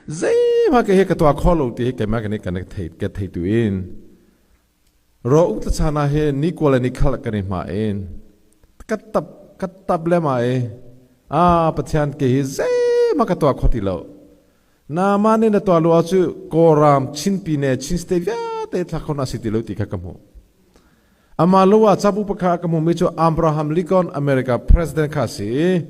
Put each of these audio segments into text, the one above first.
Zeihmah kei hi ka tuah kho lo ti hi keimah ka nih ka thei ka thei tu in ro uk ta chan ah hi ni kua le ni khal kan i hma in ka tap ka tap le ma i a Pathian ke hi zeihmah ka tuah kho ti lo naaman in na tuah lu ah cu kawlram chinpi ne chin state vialte thlak khon a si ti lo ti kha ka hmuh Amah lo ah cabu pakhat ka hmuhmi cu Abraham Lincoln America President kha a si i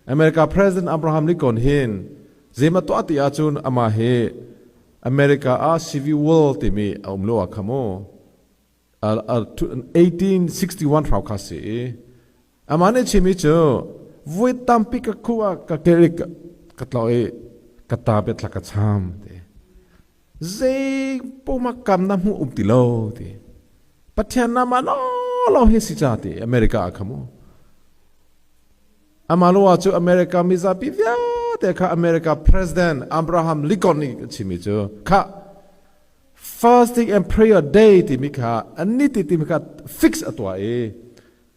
America President Abraham Lincoln hi zeim a tuah ti ahcun amah hi America ah civil war timi a um lo ah kha mu. 1861 hrawng kha a si i Amah nih a chimmi cu voi tampi ka khuh ah ka kelh i ka tlawh i ka ta biatlak ka cham ti. Zei pumah kam na hmuh um ti lo ti. Pathian namah lawlaw hi si ca ti America ah kha mu. Amah luwa cu America mizapi vialte kha America President Abraham Lincoln nih a chimmi cu kha fasting and prayer day timi kha ani ti timi kha fix a tuah i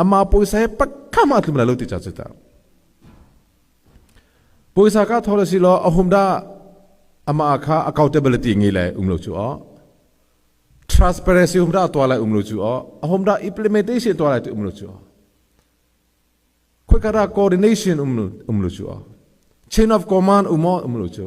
Amah pawisa he pakkam aa tlum lai lo ti ca cu ta. Pawisa ka thawr si law a hum dah amah kha accountability ngi le um lo cu aw. Transparency hum dah tua lai um lo cu aw. A hum dah implementation tua lai ti um lo cu aw. Khuikara coordination um lo um lo cu aw. Chain of command um aw um lo cu.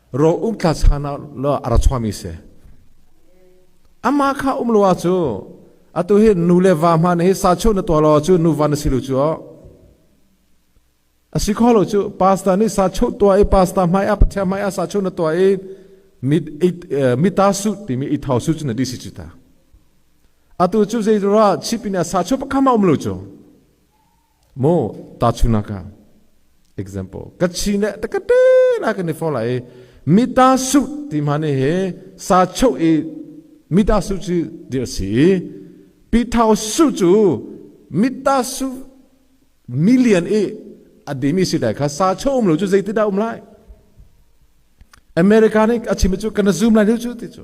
ro umtla chan ah a ra chuami si amah kha um lo cu atu hi nu le va hma na hi sa cheu na tuah lo cu nu va na si lu cu a si kho lo cu pasta nih sa cheu tua i pasta hmai a pathia hmai a sa cheu na tua i mit mi ta su timi i thau su cu na disi cu ta atu cu zeirah chip in a sa cheu pakhat um lo cu Maw tahchunhnak ah example ka chi ne ta ka te na kan ni fo lai mita su ti ma ne he sa chho i mita su chu dir si pitau su chu mita su million i a dimi si dai kha sa chho um lo chu zeitin dah um lai america nih a chim cu kana zoom lai deuh cu ti cu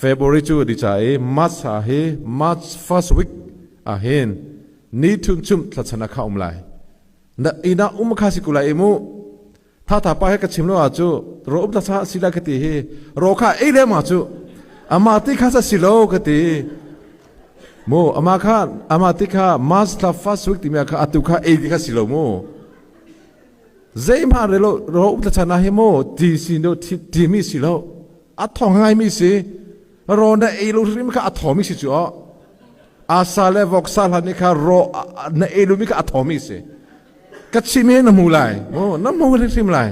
February cu a ti ca i March thla hi March first week ahhin ni thun chumh thlatsan ah kha a um lai. Na inn ah um kha si ko lai i mu. Thatha pa he ka chim lo ah cu ro um thasa si lai ka ti hi ro kha ei le ma cu amah ti kha sa si lo ka ti. Mu amah kha amah ti kha March thla first week timi ah kha atu kha ei ti kha si lo mu. Zeihmanh re lo ro um thachan ah hi mu ti si lo ti mi si lo. a thawng ngaimi si rawn na ei lo hrim kha a thawmi si cu oh asa le voksa hlan ni kha rawh na ei lumi kha a thawmi si ka chim hi na hmu lai oh na hmu hrim lai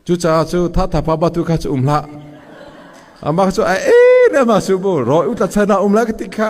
cucaah cu thatha pa batu kha cu um hlah amah cu a e le ma su bu ro u tla chana um lai ka ti kha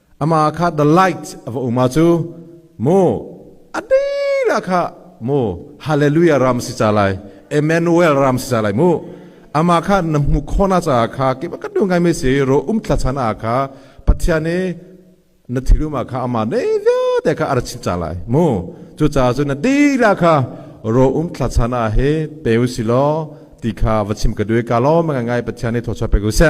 Amah kha the light a va um ah cu maw a dila kha maw hallelujah ram si ca lai Emmanuel ram si ca lai mu amah kha na hmu khona caah kha kip ka du ngai me si ro um thla chan a kha pathian e na thirum kha amah nei vyo te kha ar chin ca lai mu chu ca cu na dila kha ro um thla chan a he pe u silo ti kha va chim ka due ka lo ma ngai pathian e tho cha pe ku se